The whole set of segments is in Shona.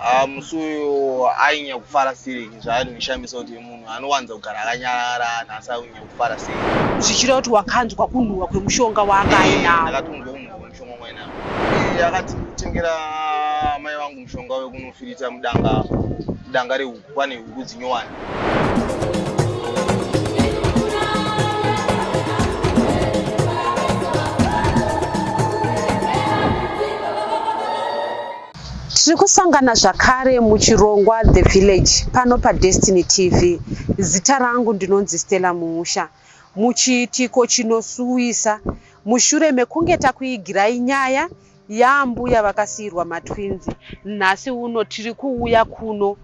Ah, musi uyu ainyanya kufara sei zvaanondishamisa kuti munhu anowanza kugara akanyarara nhasi ainyanya kufara sei zvichireva kuti wakanzwa kunhuhwa kwemushonga waanga ainawo ndakatonzwa kunhuhwa kwemushonga wanga ainawo iye akati kutengera mai vangu mushonga wekunofirita mudanga mudanga rehuku pane huku dzinyowani Tiri kusangana zvakare muchirongwa The Village pano paDestiny TV. Zita rangu ndinonzi Stella Muusha. Muchiitiko chinosuwisa mushure mekunge takuigirai nyaya yaambuya vakasiirwa matwinzi, nhasi uno tiri kuuya kuno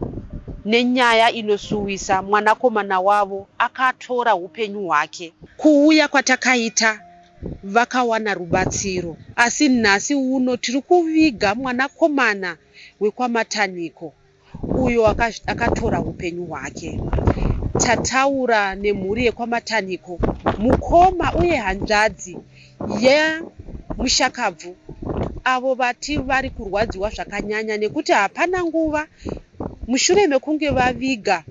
nenyaya inosuwisa mwanakomana wavo akatora upenyu hwake. Kuuya kwatakaita vakawana rubatsiro asi nhasi uno tiri kuviga mwanakomana wekwaMatanhiko uyo akatora hupenyu hwake. Tataura nemhuri yekwaMatanhiko, mukoma uye hanzvadzi yemushakabvu avo vati vari kurwadziwa zvakanyanya nekuti hapana nguva mushure mekunge vaviga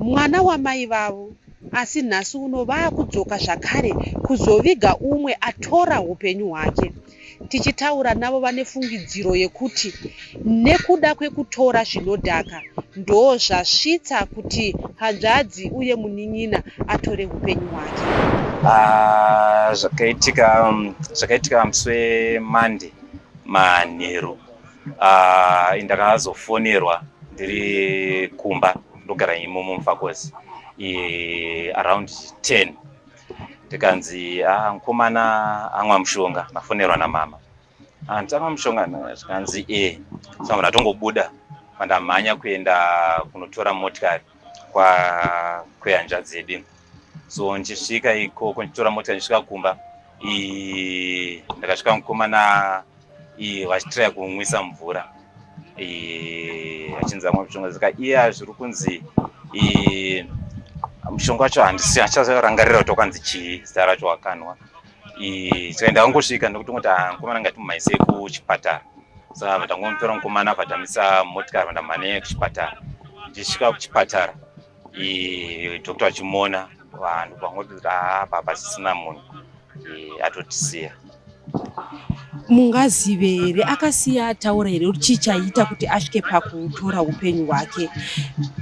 mwana wamai vavo asi nhasi uno vakudzoka zvakare kuzoviga umwe atora hupenyu hwake. Tichitaura navo vane fungidziro yekuti nekuda kwekutora zvinodhaka ndozvasvitsa kuti hanzvadzi uye munin'ina atore hupenyu hwake. Ah, zvakaitika um, zvakaitika musi weMonday manheru uh, ndakazofonerwa ndiri kumba ndogara imomo mufakosi around 10 ndikanzi ah, mukomana amwa mushonga mafonerwa namama hanti ah, amwa mushonga zvikanzi e eh, samunhu atongobuda mandamhanya kuenda kunotora motikari kwehanzvadzi yedu so ndichisvika ikoko ndichitora motikari ndichisvika kumba ndakasvika mukomana iye vachitiraya kunwisa mvura vachinzi vamwe mishonga saka iya zviri kunzi mushonga wacho handisi hachazorangarira kuti wakanzi chii zita racho wakanwa tikaenda wangosvika nekuti ngoti ah, mukomana ngati mumaise kuchipatara saka vatangomutora mukomana vatamisa motikari vandamhane kuchipatara ndichisvika kuchipatara doctor achimona vanhu pangoti kuti haa papa chisina munhu atotisiya mungazive here akasiya ataura here kuti chii chaiita kuti asvike pakutora upenyu hwake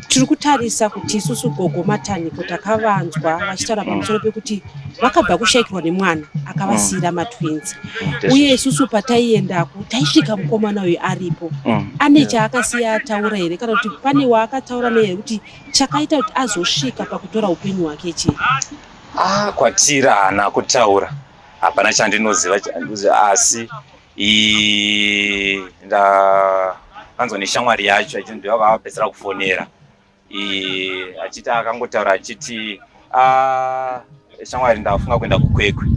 tiri kutarisa kuti isusu gogo mataniko takavanzwa vachitaura pamusoro pekuti vakabva kushaikirwa nemwana akavasiira matwins mm. uye isusu pataiendako taisvika mukomana uyu aripo mm. ane chaakasiya ataura here kana kuti pane waakataura nehere kuti chakaita kuti azosvika pakutora upenyu hwake chii ah, kwatira haana kutaura hapana chandinoziva asi ndakanzwa neshamwari yacho achindivavapedzera kufonera Eh, achiti akangotaura achiti ah, shamwari ndafunga kuenda kukwekwe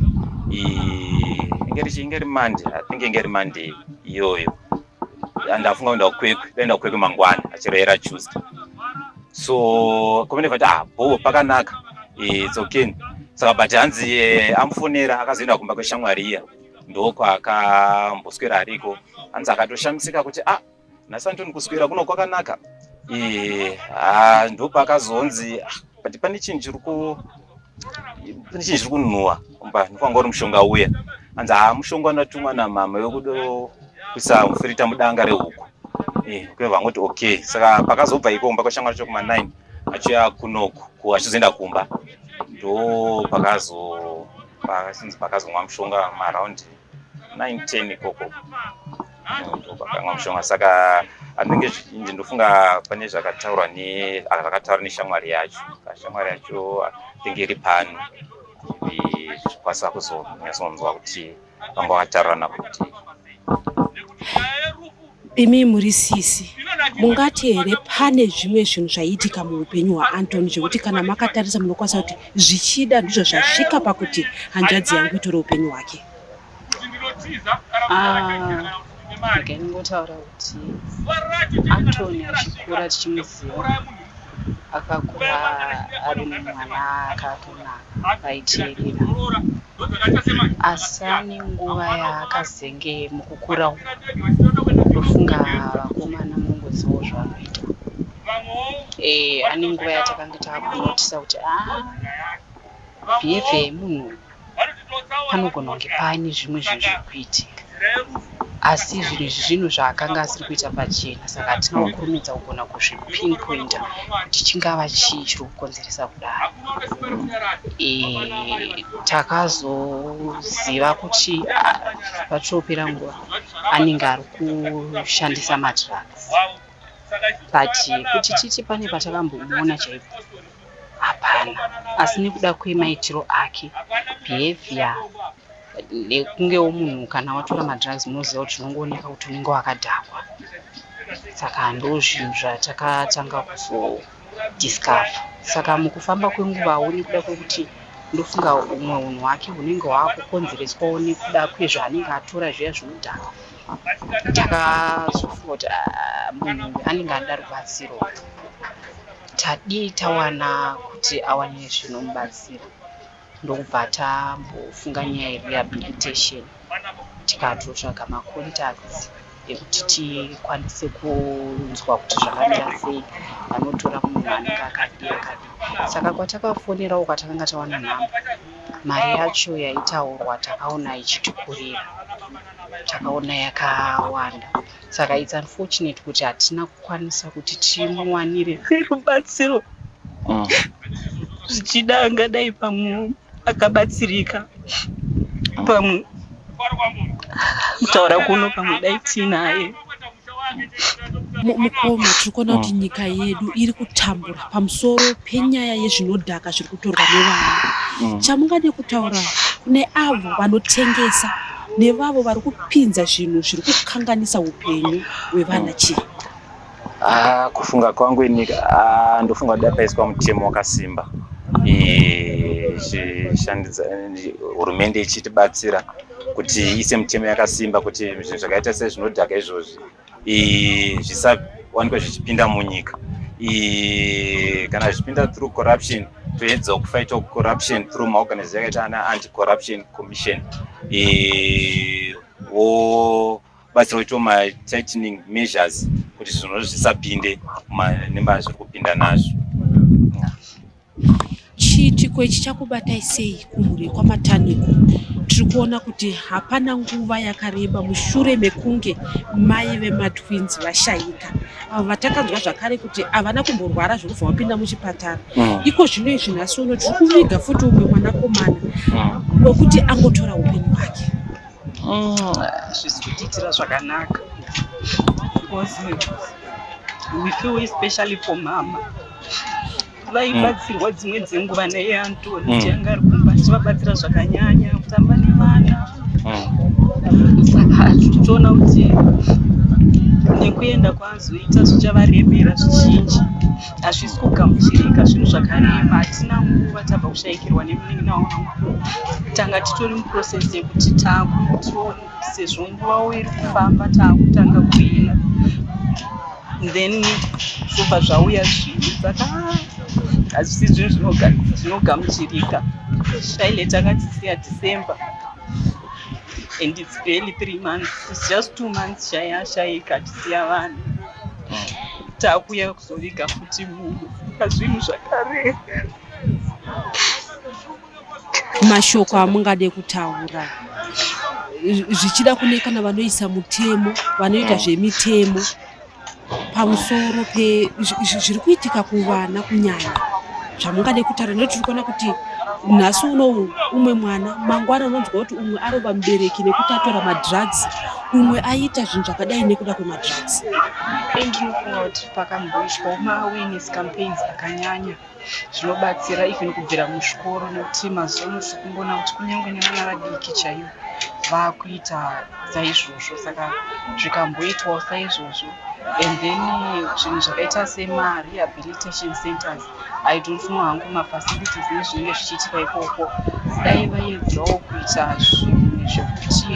eh, inge ri mande i think inge ri mande iyoyo ndafunga kuenda kukwekwe ndaenda kukwekwe mangwana achiroyera tuesday so komene vati ah bho pakanaka eh, it's okay saka but hanzi amufonera akazoenda kumba kweshamwari iya ndokwaakamboswera ariko hanzi akatoshamisika kuti ah nhasi antoni kuswera kuno kwakanaka ee ha ndopakazonzi ah, but pane chinhu chiri ku pane chinhu chiri kunhuwa mba ndikwanga uri mushonga uya anzi haa mushonga wanatumwa namama wekuda kuisa mufirita mudanga rehuku Eh, kune vangoti okay saka pakazobva iko kumba kwashamwari chokuma 9 achiuya kunoku ku achizoenda kumba ndo pakazo pasinzi pakazomwa mushonga maraundi 910 ikoko ndokwakamwa mm, mushonga saka anenge zvizhinji ndofunga pane zvakataurwa ah, zvakataura neshamwari yacho shamwari yacho anenge iri pano zvichikwanisa kuzonyatsonzwa kuti vanga vataurana kuti Imi muri sisi, mungati here pane zvimwe zvinhu zvaiitika muupenyu hwaAntony zvekuti kana makatarisa munokwanisa kuti zvichida ndizvo zvasvika pakuti hanzvadzi yangu itore upenyu hwake? Ah, regai ndingotaura kuti Antony achikura tichimuziva akakura ari mwana akaka vaiteerera asi ane nguva yaakazenge mukukura uku ndofunga vakomana munongozivawo zvavanoita eh, ane nguva yatakange taakunotisa kuti a ah, behavior yemunhu panogona kunge paane zvimwe zvinhu zviri kuitika asi zvinhu izvi zvinhu zvaakanga asiri kuita pachena saka hatina kukurumidza kugona kuzvipinpointer kuti chingava chii chiri kukonzeresa kudaro e, takazoziva kuti pachopera nguva anenge ari kushandisa madrugs but kuti titi pane patakambomuona chaipo hapana asi nekuda kwemaitiro ake behavior nekungewo munhu kana watora madrugs munoziva kuti zvinongooneka kuti unenge wakadhakwa saka ndozvinhu zvatakatanga kuzodiscover saka mukufamba kwenguvawo nekuda kwekuti ndofunga umwe unhu hwake hunenge hwakukonzereswawo nekuda kwezvaanenge atora zviya zvinodhaka takazofota munhu anenge anoda rubatsiro tadii tawana kuti awane zvinomubatsira ndokubva tambofunga nyaya yerehabilitation tikatotsvaga macontacts ekuti tikwanise kunzwa kuti zvakamira sei vanotora munhu anenge akadi akadi saka kwatakafonerawo kwatakanga tawana nhamba mari yacho yaitaurwa takaona ichitikurira takaona yakawanda saka its unfortunate kuti hatina kukwanisa kuti timuwanire rubatsiro mm. zvichida angadai pamwe akabatsirika pamwe kutaura kuno pamwe dai tiinaye mukoma tiri kuona kuti nyika yedu iri kutambura pamusoro penyaya yezvinodhaka zviri kutorwa nevana mm. chamungade kutaura kune avo vanotengesa nevavo vari kupinza zvinhu zviri kukanganisa upenyu hwevana mm. chii ah, kufunga kwangu ini ah, ndofunga kuti dakaiswa mutemo wakasimba hurumende ichitibatsira kuti iise mitemo yakasimba kuti zvinhu zvakaita sezvinodhaka izvozvi zvisawanikwe zvichipinda munyika kana zvichipinda through corruption toedzawo kufaita corruption through maorganiz yakaita ana anti corruption commission wobatsira kuitawo matightening measures kuti zvinhu zvisapinde nemba zviri kupinda nazvo Chiitiko ichi chakubatai sei kumhuri kwaMataniko? Tiri kuona kuti hapana nguva yakareba mushure mekunge mai vematwins vashaika avo vatakanzwa zvakare kuti havana kumborwara zvekubva vapinda muchipatara mm. iko zvino izvi nhasi uno tiri kuviga futi umwe mwanakomana mm. wekuti angotora upenyu hwake hazvisi mm. kutiitira zvakanaka because we feel especially for mama vaibatsirwa dzimwe dzenguva naiye antoni mm. tianga ari kumba tichivabatsira zvakanyanya kutamba nevana mm. saka titoona kuti nekuenda kwazoita zvichavaremera zvizhinji hazvisi kugamuchirika zvinhu zvakarema hatina nguva tabva kushaikirwa nemunin'ina wangu tanga titori muprocess yekuti takuti sezvo nguva wo iri kufamba taakutanga kuina then zvobva zvauya zvinhu saka hazvisi zvinhu zvinogamuchirika shaile takatisiya december and its barely three months its just two months shaya shaika tisiya vanhu takuya kuzoviga futi munhu pazvinhu zvakareka mashoko amungade kutaura zvichida kune kana vanoisa mutemo vanoita mm. zvemitemo pamusoro pezviri kuitika kuvana kunyanya zvamungade kutaura ndo tiri kuona kuti nhasi unou umwe mwana mangwana unonzwa kuti umwe arova mubereki nekuti atora madrugs umwe aita zvinhu zvakadai nekuda kwemadrugs endinofunga kuti pakamboiswa maawines campaigns akanyanya zvinobatsira even kubvira muzvikoro nekuti mazuva ano tiri kumboona kuti kunyange nevana vadiki chaivo vakuita saizvozvo saka zvikamboitwawo saizvozvo and then zvinhu zvakaita semarehabilitation centers i don't know hangu mafacilities nezvinenge zvichiitika ikoko dai vaedzawo kuita zvinhu zvekuti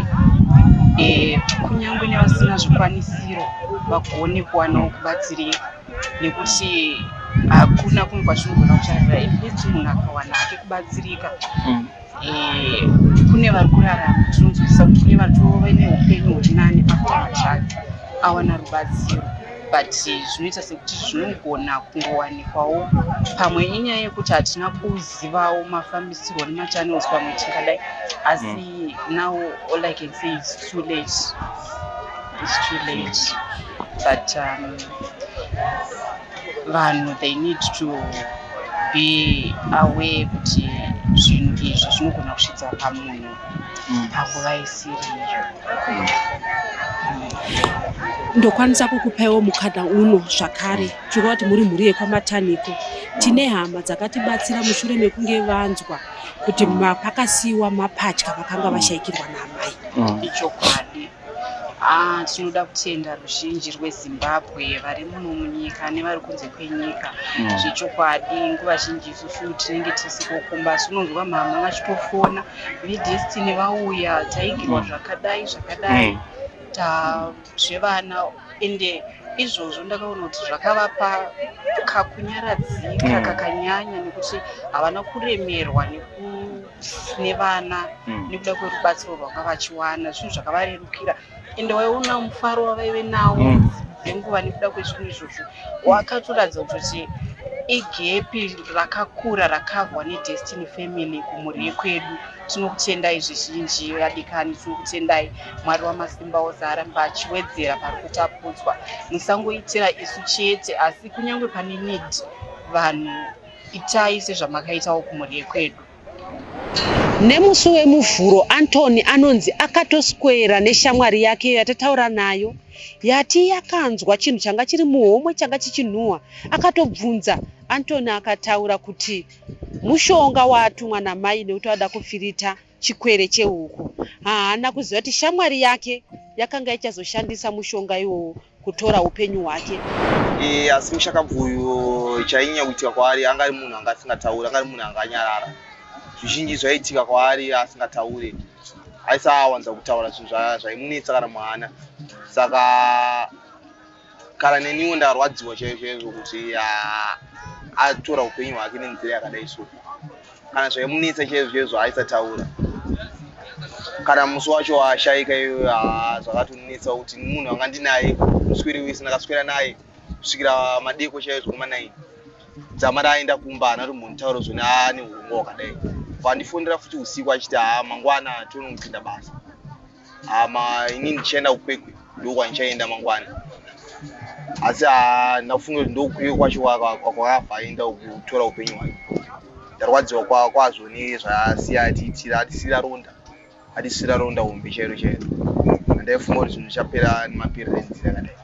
eh, kunyange nevasina zvikwanisiro vagone kuwanawo kubatsirika nekuti hakuna kumwe kwatinogona kucharira infact munhu akawana hake kubatsirika mm. eh, kune vari kurarama tinonzwisisa kuti kune vatove neupenyu huri nani afuatsvake awana rubatsiro but zvinoita sekuti zvinogona kungowanikwawo pamwe inyaya yekuti hatina kuzivawo mafambisirwo nemachannels pamwe tingadai asi mm. now all i can say is too late It's too late but um, vanhu they need to be aware kuti zvinhu izvi zvinogona kusvitsa pamunhu mm. panguva isiri iyo mm. ndokwanisa kukupaiwo mukadha uno zvakare tiri kuti muri mhuri yekwamataniko tine hama dzakatibatsira mushure mekunge vanzwa kuti pakasiyiwa mapatya vakanga vashaikirwa naamai mm. ichokwadi Ah, tinoda kutenda ruzhinji rwezimbabwe vari muno munyika nevari kunze kwenyika mm. zvechokwadi nguva zhinji isusu tinenge tisikokumba asi unonzwa mhamha vachitofona vedestiny vauya taigirwa mm. zvakadai zvakadai mm. ta zvevana ende izvozvo ndakaona kuti zvakavapa kakunyaradzika mm. kakanyanya nekuti havana kuremerwa neku tine vana mm. nekuda kwerubatsiro rwanga vachiwana zvinhu zvakavarerukira ende waiona mufaro wavaive nawo mm. nenguva nekuda kwezvinhu izvozvo wakatoratidza kutoti igepi rakakura rakavhwa nedestiny family kumhuri yekwedu tinokutendai zvizhinji vadikani tinokutendai mwari wamasimba ose arambe achiwedzera pari kutapudzwa musangoitira isu chete asi kunyange pane need vanhu itai sezvamakaitawo kumhuri yekwedu Nemusi weMuvhuro, Anthony anonzi akatoswera neshamwari yake iyo yatataura nayo yati yakanzwa chinhu changa chiri muhomwe changa chichinhuhwa. Akatobvunza Anthony akataura kuti mushonga waatumwa namai nekuti ada kufirita chikwere chehuku. Haana kuziva kuti shamwari yake yakanga ichazoshandisa mushonga iwowo kutora upenyu hwake e, asi mushakabvuyo chainyanya kuitika kwaari anga ari munhu anga asingatauri anga ari munhu anga anyarara zvizhinji zvaiitika kwaari asingataure aisawanza kutaura zvinhu zvaimunetsa kana muhana saka kana neniwo ndarwadziwa chaizvo chaizvo kuti atora upenyu hwake nenzira yakadai so kana zvaimunetsa chaizvo chaizvo aisataura kana musi wacho ashaika iyoyo ah, zvakatonetsa kuti munhu anga ndinaye muswere wese ndakaswera naye kusvikira madeko chaizvo kumanaini dzama raaenda kumba hana tombonitaura zvone ane urungo wakadai vandifonera futi usiku achiti haa mangwana tonopinda basa hama ini ndichaenda kukwekwe ndokwandichaenda mangwana asi handina kufunga kuti ndokukwekwe kwacho kwakabva aenda kutora upenyu hwake ndarwadziwa kwazvo nezvasiya atiitira atisira ronda atisira ronda hombe chairo chairo handaifunga kuti zvinhu zvichapera nemaperera enzira kadai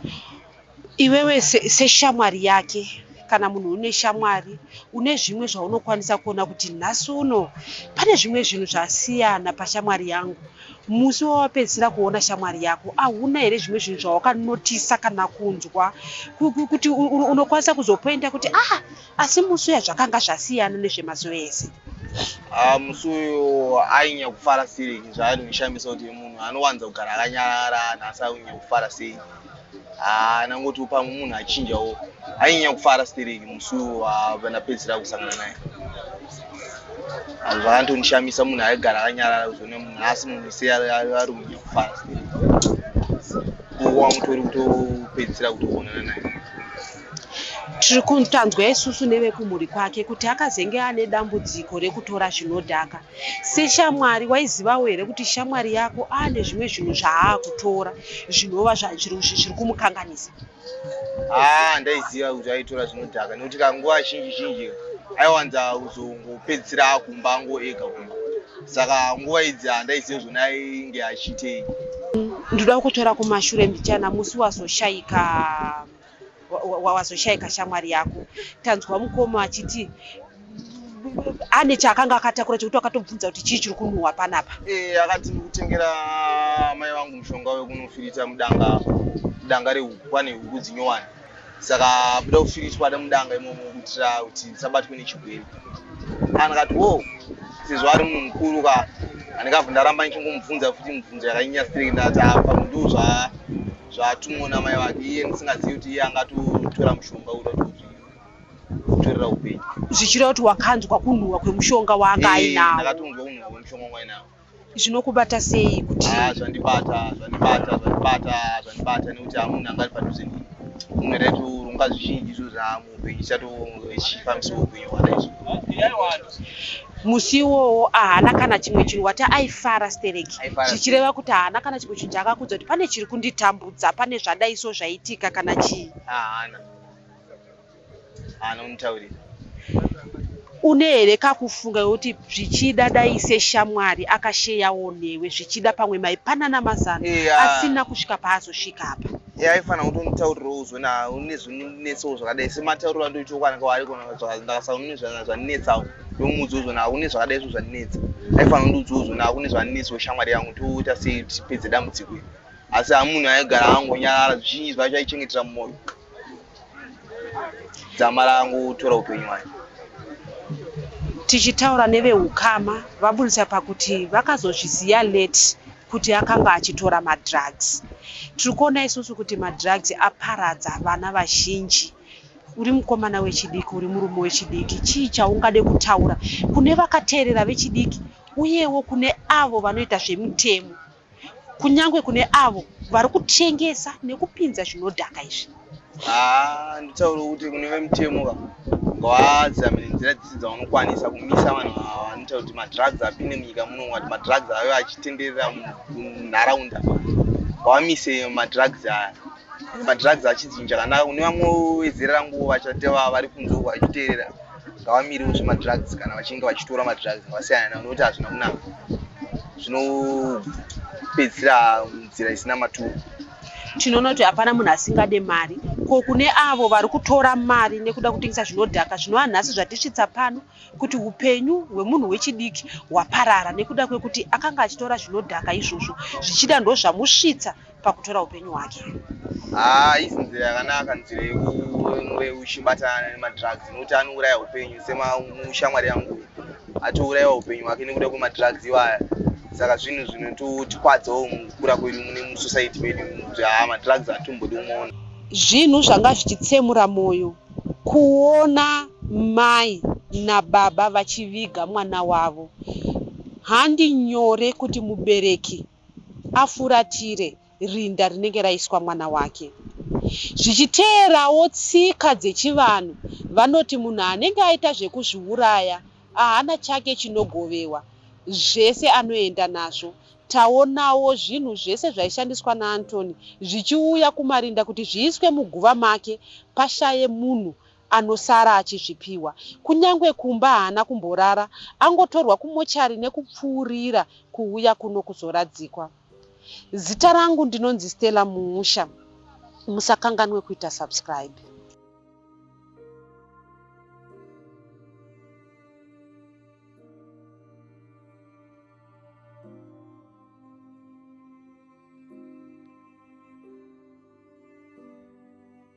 Iwewe seshamwari yake kana munhu une shamwari une zvimwe zvaunokwanisa kuona kuti nhasi uno pane zvimwe zvinhu zvasiyana pashamwari yangu musi wawapedzisira kuona shamwari yako ahuna here zvimwe zvinhu zvawakanotisa kana kunzwa kuti unokwanisa kuzopoinda kuti ah asi musi uya zvakanga zvasiyana nezvemazuva ese ah, musi uyo ainyanya kufara sei zvaainoshamisa kuti munhu anowanza kugara akanyarara nhasi ainyanya kufara sei haa nangoti upamwe munhu achinjawo ainyanya kufara stereki musi wavanapedzisira kusangana naye anhu vakantonishamisa munhu aigara akanyarara kuzone munhu asi munhu ise ari kunyanya kufara stereki kuwa mutori kutopedzisira kutoonana naye tiri kutanzwa isusu nevekumhuri kwake kuti akazenge ane dambudziko rekutora zvinodhaka Seshamwari waizivawo here kuti shamwari yako ane zvimwe zvinhu zvaakutora zvinova zviri kumukanganisa? Haa ah, ndaiziva kuti aitora zvinodhaka nekuti kanguva zhinji zhinji aiwanza kuzongopedzisira akumba ango ega kumba saka nguva idzi handaiziva ah, zvona ainge achiitei. Ndoda kutora kumashure mbichana musi wazoshaika. wawazoshaika shamwari yako tanzwa mukoma achiti ane chaakanga akatakura chekuti akatobvunza kuti chii chiri kunhuhwa panapa eh, akati kutengera mai vangu mushonga wekunofirita mudanga mudanga rehuku pane huku dzinyowani saka buda kufiritwa da mudanga imomo kuitira kuti ndisabatwe nechigwere kana kati wo sezvo ari munhu mukuru ka andikabva ndaramba ndichingomubvunza futi mubvunzo yakanyanya strei ndati apa mundiwo zvaa zvaatumwa namai vake iye ndisingazivi kuti iye angatotora mushonga uda kutozvitorera upenyu zvichireva kuti wakanzwa kunhuhwa kwemushonga waanga ainawo ndakatonzwa kunhuhwa kwemushonga wanga ainawo zvinokubata sei kuti ah, zvandibata zvandibata zvandibata zvandibata nekuti hamunhu angari padhuze nini unhu raitorunga zvizhinji izvo zvamu musi iwowo ahana kana chimwe chinhu wati aifara stereki zvichireva kuti ahana kana chimwe chinhu chaakakudza kuti pane chiri kunditambudza pane zvadaiso zvaitika kana chii une here kakufunga yokuti zvichida dai seshamwari akasheyawo newe zvichida pamwe maipanana mazano asina kusvika paazosvika apa ya aifana kuti unditaurirewo uzwe na une zvinonetsawo zvakadai sematauriro andoita ukwanaka waari kona ndakasaune zvaninetsawo ndomuudza uzwe na une zvakadai zvo zvaninetsa aifana undiudza uzwe na une zvaninetsa weshamwari yangu toita sei tipedze dambudziko iri asi hamunhu aigara angonyarara zvizhinji zvacho aichengetera mumwoyo dzama rangu tora upenyu hwake tichitaura neveukama vaburitsa pakuti vakazozviziva late kuti akanga achitora madrugs tiri kuona isusu kuti madrugs aparadza vana vazhinji uri mukomana wechidiki uri murume wechidiki chii chaungade kutaura kune vakateerera vechidiki uyewo kune avo vanoita zvemitemo kunyange kune avo vari kutengesa nekupinza zvinodhaka izvi haa nditaure kuti kune vemutemo ka ngawadzamire nzira dzese dzavanokwanisa kumisa vanhu ava vanoita kuti madrugs apinde munyika muno ngati madrugs ave achitenderera munharaunda ngavamise madrugs aya madrugs achidzinja kanaka kune vamwe vezera ranguwo vachate vari kunze uko vachiteerera ngavamirewo zvemadrugs kana vachinge vachitora madrugs ngavasiyana nawo nokuti hazvina kunaka zvinopedzisira nzira isina maturo tinoona kuti hapana munhu asingade mari ko kune avo vari kutora mari nekuda kutengesa zvinodhaka zvinova nhasi zvatisvitsa pano kuti upenyu hwemunhu wechidiki hwaparara nekuda kwekuti akanga achitora zvinodhaka izvozvo zvichida ndozvamusvitsa pakutora upenyu hwake haa isi nzira yakanaka nzira yekunge uchibatana nemadrugs nokuti anouraya upenyu semushamwari yangu atourayiwa upenyu hwake nekuda kwemadrugs iwaya saka zvinhu zvinototikwadzawo mukukura kwedu mune musociety medu kuti haa madrugs atimbodi umaona zvinhu zvanga zvichitsemura mwoyo kuona mai nababa vachiviga mwana wavo handi nyore kuti mubereki afuratire rinda rinenge raiswa mwana wake. Zvichiteerawo tsika dzechivanhu, vanoti munhu anenge aita zvekuzviuraya ahana chake chinogovewa, zvese anoenda nazvo. Taonawo zvinhu zvese zvaishandiswa naAntony zvichiuya kumarinda kuti zviiswe muguva make pashaye munhu anosara achizvipiwa. Kunyangwe kumba haana kumborara, angotorwa kumochari nekupfuurira kuuya kuno kuzoradzikwa. Zita rangu ndinonzi Stella Muusha. Musakanganwe kuita subscribe.